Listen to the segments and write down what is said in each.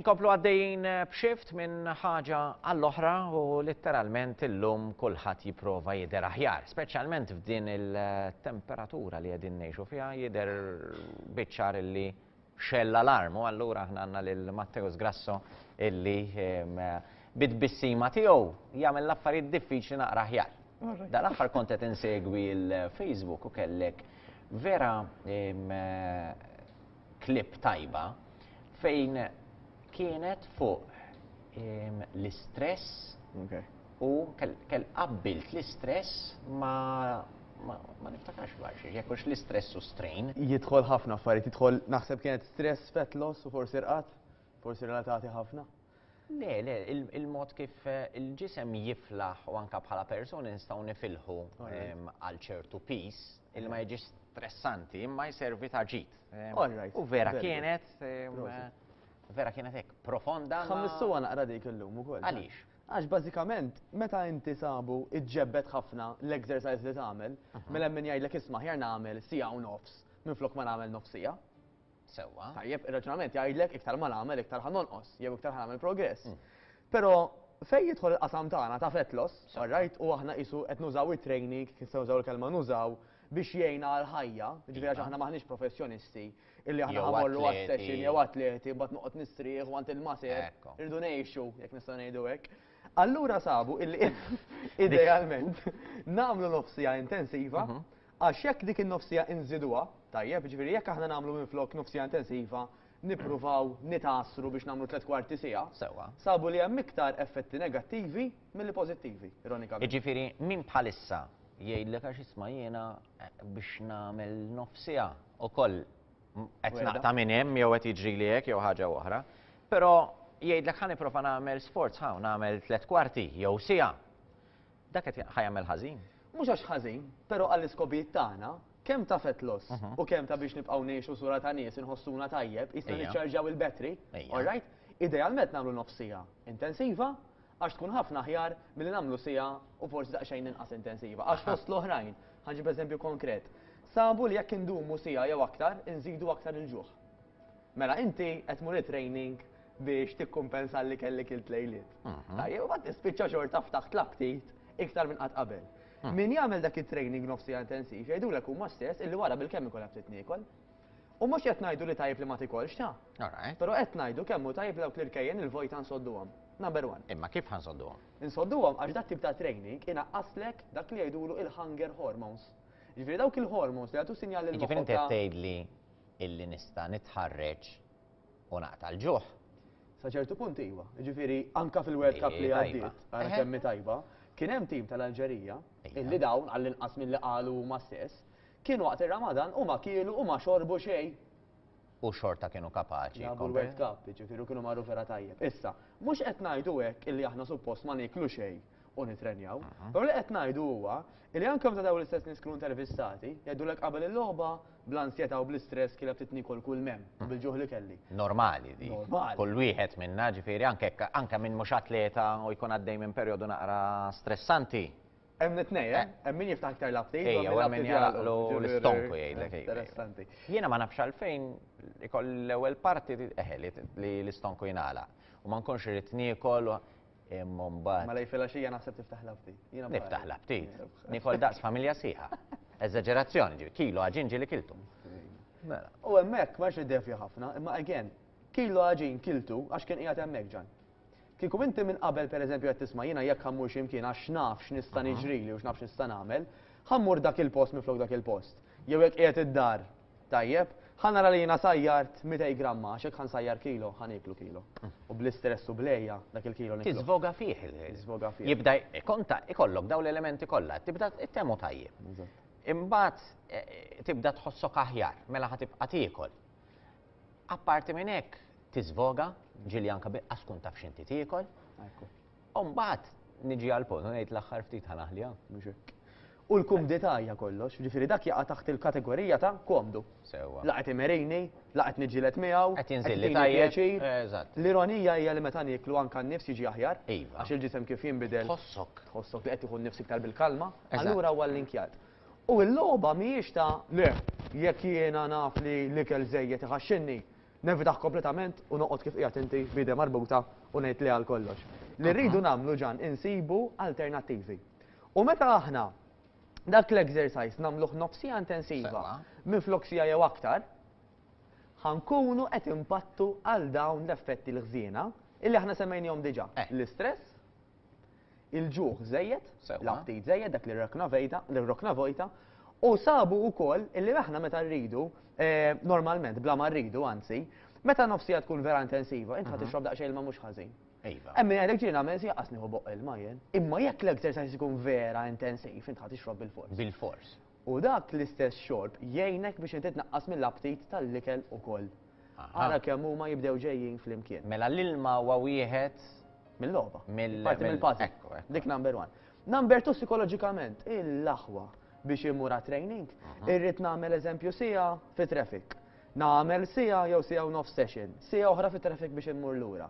Inkomplu għaddejjin eh, b'xift minn ħaġa għall-oħra u letteralment illum kulħadd jipprova jidher aħjar, speċjalment f'din il-temperatura li qegħdin ngħixu fiha jidher biċċar illi x'għell l-alarm u allura aħna għandna lil Matteus Grasso illi bit-tbissima tiegħu jagħmel l-affarijiet diffiċli naqra aħjar. Dal-aħħar kont qed insegwi l-Facebook u kellek vera klip tajba fejn kienet fuq l-istress U kell qabbilt l-istress ma' ma niftakarx b'għajr jekk hux l-istress u strain. Jidħol ħafna affarijiet, jidħol naħseb kienet stress, fat loss u forsi rqat, forsi relatati ħafna. Le, le, il-mod kif eh, il-ġisem jiflaħ u anka bħala persuni nistgħu nifilħu ehm, għal ċertu pis il ma jiġi stressanti imma jservi ta' ġid. Ehm, u vera kienet, ehm, vera kienet hekk profonda. Ħammissuha naqra dik illum ukoll. Għaliex? Għax bażikament meta inti sabu iġġebbed ħafna l-exercise li tagħmel, mela hemm min jgħidlek isma' aħjar nagħmel siegħa u nofs minflok ma nagħmel nofs siegħa. Sewwa. Tajjeb, ir-raġunament jgħidlek iktar ma nagħmel iktar ħa nonqos jew iktar ħa nagħmel progress. Però fejn jidħol il-qasam tagħna ta' fat loss, all right, u aħna qisu qed nużaw it-training, kif se nużaw il-kelma nużaw, biex jgħinna għall-ħajja, jiġifieri għax aħna m'aħniex professjonisti, Illi aħna ħamorru għas-session jew atleti mbagħad noqgħod nistrieħ għand il-maser, irridu ngħixu jekk nista' ngħidu hekk. Allura sabu illi idealment nagħmlu nofsija intensiva mhm. għax jekk dik in-nofsija inżiduha, tajjeb, ġifieri jekk aħna nagħmlu minflok nofsija intensiva, nippruvaw nitasru biex nagħmlu tliet kwarti sija. Sewa. Sabu li hemm iktar effetti negattivi milli pożittivi, ironikament. Ġifieri min bħalissa jgħidlek għax isma' jiena Biex nagħmel nofsiha ukoll qed naqta' minn hemm jew qed jiġrili hekk jew ħaġa oħra. Però jgħidlek ħa nipprova nagħmel sforz ħa nagħmel tliet kwarti jew siegħa. Dak qed ħa jagħmel ħażin. Mhux għax ħażin, però għall-iskopijiet tagħna, kemm ta' fett loss u kemm ta' biex nibqgħu ngħixu sura ta' nies inħossuna tajjeb, jista' niċċarġjaw il-battery, all right? Idealment nagħmlu nofsiha intensiva, Għax tkun ħafna aħjar milli nagħmlu siegħa u forsi daqsxejn inqas intensiva. Għax fost l-oħrajn, ħa nġib eżempju konkret, sabu li jekk indumu siegħa jew aktar, inżidu aktar il-ġuħ. Mela inti qed tmur it-training biex tikkumpensa li kellek ilt lejliet. Tajjeb, u mbagħad tispiċċa xorta ftaħt l-aptit iktar minn qatt qabel. Min jagħmel dak it-training nofs siegħa intensiv jgħidulek huma stess illi wara bilkemm ikollha ftit niekol. U mhux qed ngħidu li tajjeb li ma tikolx, ta? Alright. Però qed ngħidu kemm hu tajjeb li dawk l-irkejjen il-vojta nsodduhom. Number one. Imma kif ħa nsodduhom? Insodduhom għax dat-tip ta' training inaqqaslek dak li jgħidulu il-hunger hormones. Jiġifieri dawk il-hormones li jagħtu sinjal lil moħħok ta' Jiġifieri inti qed tgħidli illi nista' nitħarreġ u naqta' l-ġuħ? Sa ċertu punt iva. Jiġifieri anke fil-World Cup li għaddiet, ara kemm hi tajba, kien hemm tim tal-Alġerija illi dawn, għallinqas milli qalu huma stess, Kien waqt ir-Ramadan u ma kielu u ma xorbu xejn. U xorta kienu kapaċi. Labu l-World Cup, jiġifieri u kienu marru vera tajjeb. Issa, mhux qed ngħidu hekk illi aħna suppost ma nieklu xejn u nittrenjaw. Però li qed ngħidu huwa illi anke meta dawn l-istess nies kienu intervistati, jgħidulek qabel il-logħba bl-ansjetà u bl-istress kiela bdiet niekol kull m'hemm u bil-ġuħ li kelli. Normali dik. Normali. Kull wieħed minna, ġifieri anke anke min mhux atleta u jkun għaddej minn perjodu naqra stressanti, Hemm it-tnejn, eh? Hemm min jiftaħ iktar l-aptit u Ejja, hemm u min hemm min l-aptit jagħlaq jagħlaqlu ġifieri- l-istonku jgħidlek, ejja. Interessanti. Jiena ma nafx għalfejn ikoll l-ewwel parti li eħe li li l-istonku jingħalaq u ma nkunx irrid niekol u imma mbagħad Mela jfilgħaxija naħseb tiftaħ l-aptit. Jiena bħalek. niftaħ l-aptit. Nikol daqs familja sieħa. Eżaġerazzjoni ġifieri, kilu għaġin ġieli kiltu. Mela. U hemmhekk ma rridx niddevja ħafna, imma again, kilu għaġin kiltu għax kien qiegħed hemmhekk Ġan. Kieku inti minn qabel pereżempju qed tisma' jiena jekk ħa mmur xi mkien għax naf x'nista' niġrili u x'naf x'nista' nagħmel, ħa mmur dak il-post minflok dak il-post. Jew jekk qiegħed id-dar, tajjeb, ħa nara li jiena sajjart mitej gramma għax jekk ħa nsajjar kilo, ħa nieklu kilo. U bl-istress u bl-għeja, dak il-kilo nikluh. Tiżvoga fih il-ħin. Jibda jkonta, ikollok dawn l-elementi kollha, tibda ttehmu tajjeb. Imbagħad tibda tħossok aħjar, mela ħa tibqa' tiekol. Apparti minn hekk tiżvoga, ġili anke biqqas tkun taf x'inti tiekol. U mbagħad niġi għal punt u ngħid l-aħħar ftit ħanaħliha. U l-kumdità hija kollox, ġifieri dak jaqa' taħt il-kategorija ta' komdu. Sewwa. La qed imerini, la qed niġġieled miegħu, qed jinżilli tajjeb. L-ironija hija li meta nieklu anke n-nifs jiġi aħjar, iva. għax il-ġisem kif jinbidel. Tħossok. Tħossok li qed tieħu n-nifs iktar bil-kalma, allura huwa l-linkjat. U l-logħba mhijiex ta' le, jekk jiena naf li l-ikel żejjed iħaxxinni, nevitah kompletament u noqgħod kif qiegħed inti b'idem marbuta u ngħid le għal kollox. Li rridu nagħmlu ġan insibu alternattivi. U meta aħna dak l-exercise nagħmluh nofs siegħa intensiva minflok siegħa jew aktar, ħa nkunu qed inpattu għal dawn l-effetti l-ħżiena illi aħna semmejnihom diġà, l-istress, il-ġuħ żejjed, l-aptit żejjed, dak li rokna vejda, li rokna vojta, u sabu wkoll illi aħna meta rridu, eh, normalment bla ma rridu anzi, meta nofsija tkun vera intensiva, int ħad mhm. tixrob daqsxejn ilma mhux ħażin. Iva. Emmi għalek ġina għamil si għasni hu boqqa il-majen. Imma jekk l-exercise ikun vera intensiv, int ħat ixrob bil-fors. Bil-fors. U dak l-istess xorb jgħinek biex inti tnaqqas mill-aptit tal-ikel ukoll. Ara kemm huma jibdew ġejjin flimkien. Mela l-ilma huwa wieħed. Mill-logħba. Mill-. Parti mill-puzzle. Ekku, ekku. Dik number one. Number two sikoloġikament, il-aħwa biex immur għat-training, irrid nagħmel eżempju siegħa fit-traffic. Nagħmel siegħa jew siegħa u nofs session. Siegħa oħra fit-traffic biex immur lura.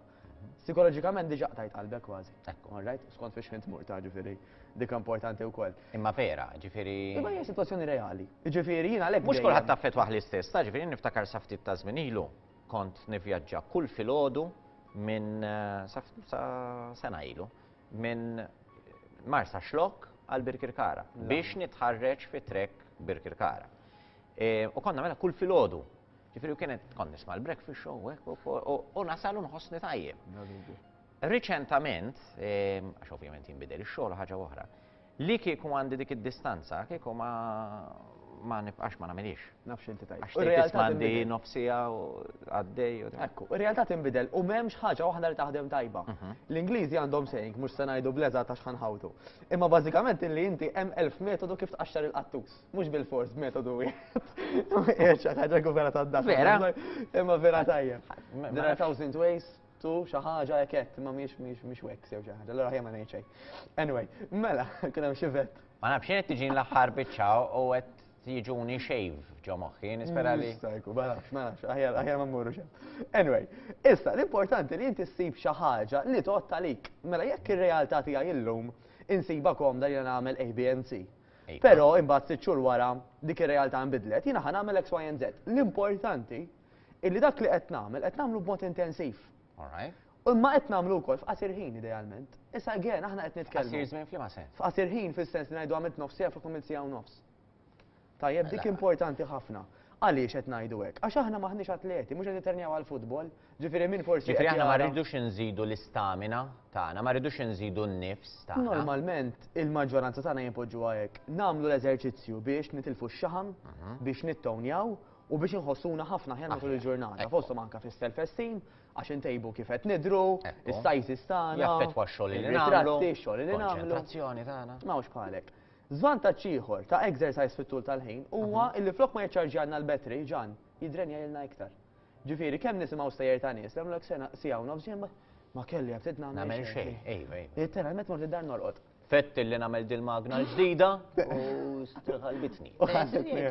Sikoloġikament diġa qtajt qalbek kważi. Ekku. All right? Skont fiex ħin tmur ta' ġifieri dika importanti wkoll. Imma vera, ġifieri. Imma hija sitwazzjoni reali. Ġifieri jien għalhekk. Mhux kulħadd taffetwah l-istess, taf ġifieri jien niftakar sa ftit ta' żmien ilu kont nivvjaġġa kull filgħodu minn sa sa sena ilu minn Marsaxlokk għal Birkirkara biex nitħarreġ fi trek Birkirkara. U kont nagħmilha kull filgħodu. Ġifieri u kienet kont nisma' l-breakfast show u hekk u nasal u nħossni tajjeb. Riċentament, ehm, għax ovvjament jinbidel ix-xogħol ħaġa oħra, li kieku għandi dik id-distanza, kieku ma ma nibqax ma nagħmilix. Nafx inti tajjeb. Għax tgħid mandi nofsija u għaddej u Ekku, ir-realtà tinbidel u m'hemmx ħaġa waħda li taħdem tajba. Mhm. L-Ingliżi għandhom saying mhux se ngħidu bleża ta' xħanħawtu. Imma bażikament li inti hemm elf metodu kif tqaxxar il-qattus. Mhux bil-fors b'metodu wieħed. Eċa, ħaġa kubera ta' dak. Vera? Imma vera tajja. There are thousand ways to xi ħaġa ekett, imma mhix mhix mhix wex jew xi ħaġa. Allora ħajja ma ngħid Anyway, mela, kien hemm xi vet. Ma nafx qed tiġi l-aħħar biċċa u qed jiġuni xejv ġo moħħi, nispera li. Stajku, ma nafx, ma nafx, aħjar, aħjar ma mmurru xem. Anyway, issa, l-importanti li jinti ssib xi ħaġa li tot talik. Mela jekk ir-realtà tiegħi illum insiba komda li nagħmel ABNC. Però imbagħad sitt xhur wara dik ir-realtà inbidlet, jiena ħa nagħmel X, Y and Z. L-importanti hi li dak li qed nagħmel qed nagħmlu b'mod intensiv. Imma qed nagħmlu wkoll f'qasir ħin idealment. Issa again aħna qed nitkellmu. F'qasir żmien f'liema sens? F'qasir ħin fis-sens li ngħidu għamilt nofs siegħa fuq għamilt siegħa u nofs. Tajjeb dik importanti ħafna. Għaliex qed ngħidu hekk? Għax aħna m'aħniex atleti, mhux qed nitternjaw għall-futbol, Ġifieri min forsi. Ġifieri aħna ma rridux inżidu l-istamina tagħna, ma rridux inżidu n-nifs tagħna. Normalment il-maġġoranza tagħna jinpoġġuha hekk. Nagħmlu l-eżerċizzju biex nitilfu x-xaħam, mhm. biex nittownjaw u biex inħossuna ħafna ħjar matul il-ġurnata. Fosthom anke fis-self-esteem għax intejbu kif qed nidru, is-sajs istana. Jaffettwa x-xogħol li nagħmlu. X-xogħol li nagħmlu. tagħna. Ma hux bħalek. Żvantaġġ ieħor ta' exercise fit-tul tal-ħin huwa mhm. li flok ma jiċċarġjanna l-battery ġan jidrenja ilna iktar. Ġifieri, kemm nisimgħu stejjer ta' nies li jagħmlulek sena, siegħa u nofs, jien ma, ma kelli aptit nagħmel xejn. Nagħmel xejn, ejwa, ejwa. Litteralment mort id-dar norqod. Fettilli nagħmel dil-magna l-ġdida u strħalbitni. U ħassitni.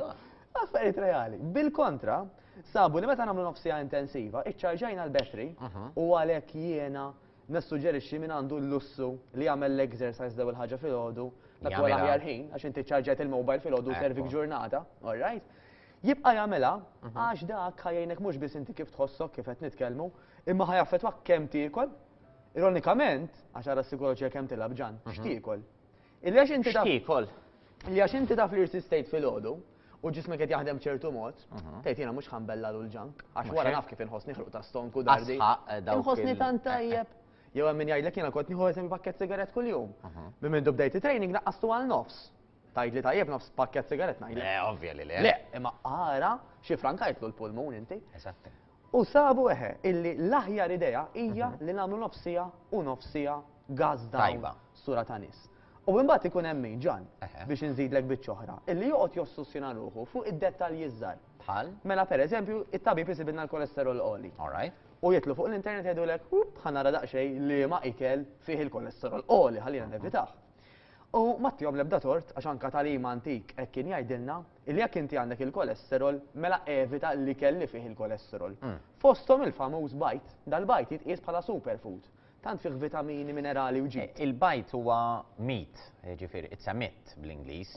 Affarijiet reali. Bil-kontra, sabu li meta nagħmlu nofs siegħa intensiva, iċċarġajna l-battery u għalhekk jiena nissuġġerixxi min għandu l-lussu li jagħmel l-exercise l-ewwel ħaġa filgħodu, dak huwa l-aħjar ħin għax inti ċċarġajt il-mobile filgħodu u servik ġurnata, all right? Jibqa' jagħmilha għax dak ħa jgħinek mhux biss inti kif tħossok kif qed nitkellmu, imma ħa jaffettwak kemm tiekol. Ironikament, għax ara s-sikoloġija kemm tilgħab Ġan, x'tiekol. Illi għax inti taf. X'tiekol? Illi għax inti taf li rsistejt filgħodu u ġismek qed jaħdem b'ċertu mod, tgħid jiena mhux ħa nbellagħlu l-junk għax wara naf kif inħossni ħruq ta' stonk u dardi. Inħossni tant tajjeb. Jew hemm min jgħidlek jiena kont nieħu eżempju pakkett sigarett kuljum. Minn mindu bdejt it-training naqqastu għal nofs. Tgħidli tajjeb nofs pakkett sigarett ngħidlek. Le, eh, ovvja li le. Le, imma ara xi frankajtlu l-pulmun inti. Eżatt. U sabu eħe illi l-aħjar idea hija mhm. li nagħmlu nofsija u nofsija gaz tajba sura ta' nies. U imbagħad ikun hemm min ġan biex inżidlek biċ-ċoħra illi joqgħod jossussjona ruħu fuq id-dettalji żgħar. Bħal? Mela pereżempju, it-tabib isibidna l-kolesterol qoli. Alright. U jitlu fuq l-internet jgħidulek, ħanara daqsxejn li ma ikel fih il-kolesterol qoli ħalli nevitaħ. U m'għattihom l-ebda tort għax anke tagħlim antik hekk kien jgħidilna li jekk inti għandek il-kolesterol mela evita l-ikel li fih il-kolesterol. Fosthom il-famuż bajd. Dal-bajd jitqies bħala superfood. Tant fih vitamini, minerali u ġid. Il-bajd huwa meat, jiġifieri it's a myth bl-Ingliż,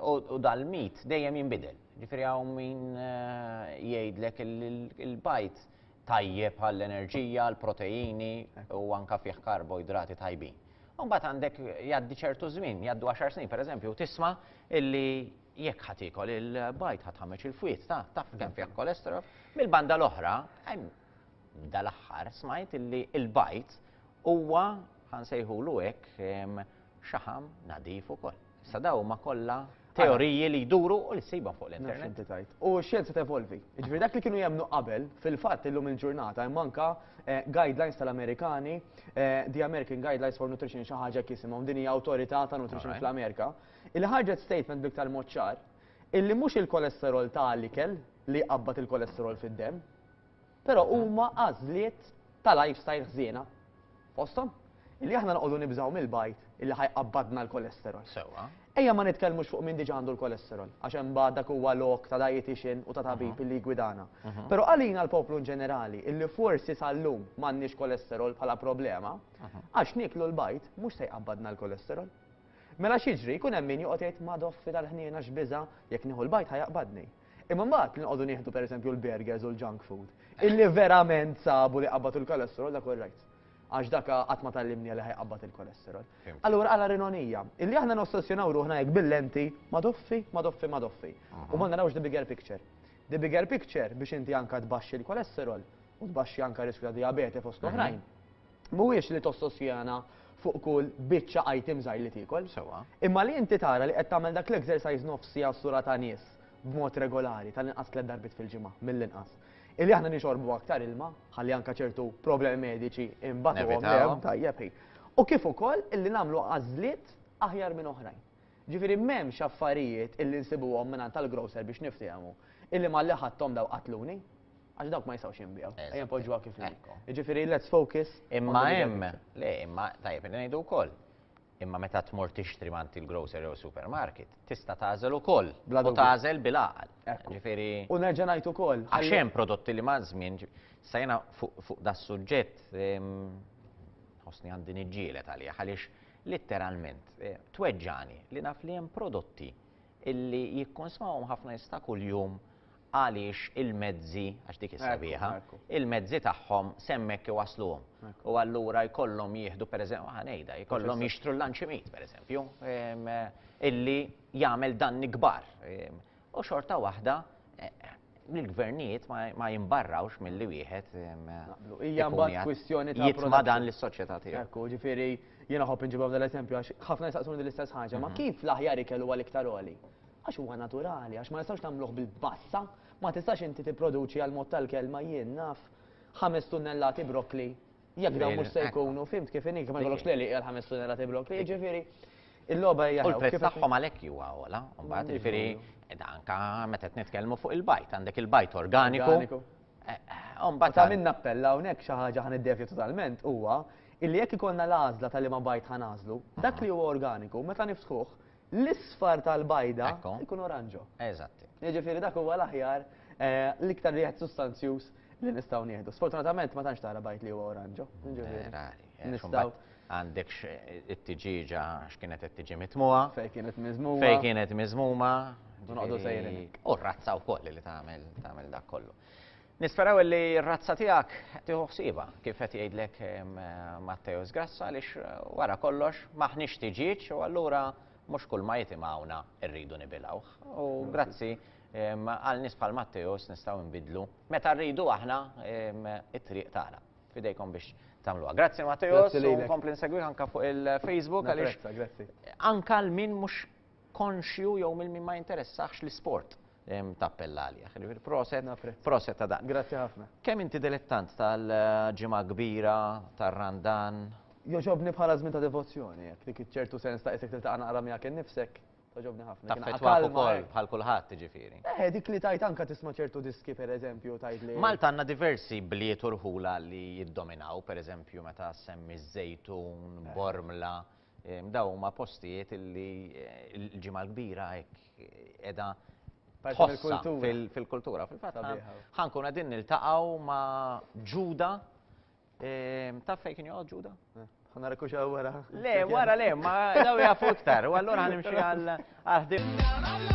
u dal-meat dejjem jinbidel. Jiġifieri hawn min jgħidlek li l-bajd tajjeb għall-enerġija, għall-proteini u anke fih karboidrati tajbin. Mbagħad għandek jgħaddi ċertu żmien, jgħaddu għaxar snin pereżempju, tisma' illi jekk ħadd ikol il-bajd ħadd ħameġ il-fwiet ta' taf kemm fih kolesterol, mill-banda l-oħra, dal-aħħar smajt illi il-bajd huwa ħansejħulu hekk xaħam nadif ukoll. Issa daw huma kollha teoriji li jduru u li ssibhom fuq l-internet. U x-xjenza tevolvi. Jiġifieri dak li kienu jemmnu qabel, fil-fatt illum il-ġurnata hemm anke eh, guidelines tal-Amerikani, eh, The American Guidelines for Nutrition xi ħaġa jisimhom din hija awtorità ta' nutrition fl-Amerika, illi ħarġet statement biktar mod ċar illi mhux il-kolesterol ta' l-ikel li jqabbad il-kolesterol fid-demm, Però huma għażliet ta' lifestyle ħżiena. Fosthom, li aħna noqogħdu nibżgħu mill-bajd li ħa jqabbadna l-cholesterol. Sewwa. Ejja ma nitkellmux fuq min diġà għandu l-cholesterol, għax imbagħad dak huwa lok ta' dietician u ta' tabib illi jiggwidana. Però għalina l-poplu inġenerali illi forsi sal-lum m'għandniex cholesterol bħala problema, għax nieklu l-bajd mhux se jqabbadna l-cholesterol. Mela x'jiġri, jkun hemm min joqgħod jgħid, 'Madoffi tal-ħniena x'biża', jekk nieħu l-bajd ħa jaqbadni. Imma mbagħad li nqogħdu nieħdu pereżempju l-burgers u l-junk food, illi verament sabu li qabad il-kolesterol dak all right. Għax dak qatt ma tallimni li ħajqabbad il-kolesterol. Allura għala rinonija, illi aħna nossessjonaw ruħna hekk bil-lenti ma doffi, ma doffi, ma doffi. U ma narawx the bigger picture. The bigger picture biex inti anka tbaxxi l-kolesterol u tbaxxi anka riskju ta' diabete fost oħrajn. mhuwiex li tossosjana fuq kull biċċa item żgħir li tiekol. Sewwa. Imma li inti tara li qed tagħmel dak l-exercise nofs siegħa s-sura ta' nies b'mod regolari, tal-inqas tliet darbiet fil-ġimgħa, mill-inqas. Illi aħna nixorbu aktar ilma, ħalli anke ċertu problemi mediċi nbattuhom le, Nevitawhom. tajjeb hi. U kif ukoll illi nagħmlu għażliet aħjar minn oħrajn. Ġifieri m'hemmx affarijiet illi nsibuhom mingħand tal-grocer biex niftehmu, illi malli ħadthom daw qatluni. Għax dawk ma jistgħux jinbiegħu. Ejja poġġuha kif inhi. Jiġifieri let's focus. Imma hemm, le, imma tajjeb ngħidu wkoll. Imma meta tmur tixtri mant il-grocer jew supermarket, tista' tagħżel ukoll. Bla tagħżel bil-għaqal. Ġifieri. U nerġa' ngħid ukoll. Għax hemm prodotti li ma' żmien sajna fuq da suġġett ħossni għandi niġġielet għalija għaliex litteralment eh, tweġġani li naf li hemm prodotti illi jikkonsmawhom ħafna jista' kuljum għaliex il-mezzi, għax dik is-sabiħa, il-mezzi tagħhom semmek iwassluhom. U allura jkollhom jieħdu, per eżempju, ah, ngħidha, jkollhom jixtru l-lanċimit, per eżempju, illi jagħmel dan nikbar. U xorta waħda, l-gvernijiet ma jimbarrawx mill-li wieħed. Hija mbagħad kwistjoni ta' jitma dan l-soċjetà tiegħu. Ekku, ġifieri jiena ħobb inġibhom dal-eżempju għax ħafna jistaqsuni l-istess ħaġa, ma mhm. kif l-aħjar ikellu għal iktar għoli? Għax huwa naturali, għax ma nistgħux nagħmluh bil-bassa. Ma tistax inti tipproduċi għal mod tal-kelma jien naf ħames tunnellati brokkli jekk dawn mhux se jkunu, fimt kif inhi, ma jkollokx leli għal ħames tunnellati brokkli, jiġifieri il-logħba hija. U l-prezz tagħhom għalhekk huwa ogħla, mbagħad jiġifieri anka meta qed nitkellmu fuq il-bajt, għandek il-bajt organiku. Mbagħad ta' minn appella hawnhekk xi ħaġa ħan iddevju totalment huwa illi jekk ikollna l-għażla tal-liema bajt ħanażlu, dak li huwa organiku meta niftħuh l-isfar tal-bajda jkun oranġo. Eżatt. Jiġifieri dak huwa l-aħjar eh, l-iktar wieħed sustanzjuż li nistgħu nieħdu. Sfortunatament ma tantx tara bajt li huwa oranġo. Nistgħu għandek it-tiġiġa x'kienet qed tiġi mitmuha. Fej kienet miżmuma. Fej kienet miżmuma. U noqdu sejrin. U razza wkoll li tagħmel tagħmel dak kollu. Nisperaw li r-razza tiegħek tieħu ħsiebha kif qed jgħidlek Matteo Sgrassa għaliex wara kollox m'aħniex tiġieġ u allura mhux kull ma jitimgħuna rridu nibilgħuh. U grazzi għal nies bħal Matteos nistgħu nbidlu meta rridu aħna it-triq tagħna. Fidejkom biex tagħmluha. Grazzi Matteos u nkompli nsegwih anke fuq il-Facebook għaliex anke l-min mhux konxju jew minn min ma jinteressahx l-isport tappella għalih. Jiġifieri proset, proset ta' dan. Grazzi ħafna. Kemm inti dilettant tal-ġimgħa kbira, tar-Randan? Jogħġobni bħala żmien ta' devozzjoni hekk, dik iċ-ċertu sens ta' qisek tiltaqa' naqra miegħek innifsek, togħġobni ħafna. Taffettwak ukoll bħal kulħadd jiġifieri. Eh, dik li tgħid anke tisma' ċertu diski pereżempju tgħid li. Malta għandna diversi bliet u rħula li jiddominaw, pereżempju meta ssemmi ż-Żejtun, Bormla, Dawn huma postijiet li l-ġimgħa l-kbira hekk qiegħda tħossha fil-kultura. Fil-fatt ħankun qegħdin niltaqgħu ma' Ġuda taf fejn kien joqgħod Ġuda? Ħana rekuxa wara. Le, wara le, ma daw jafu iktar, u allura ħanimxi għal ħdim.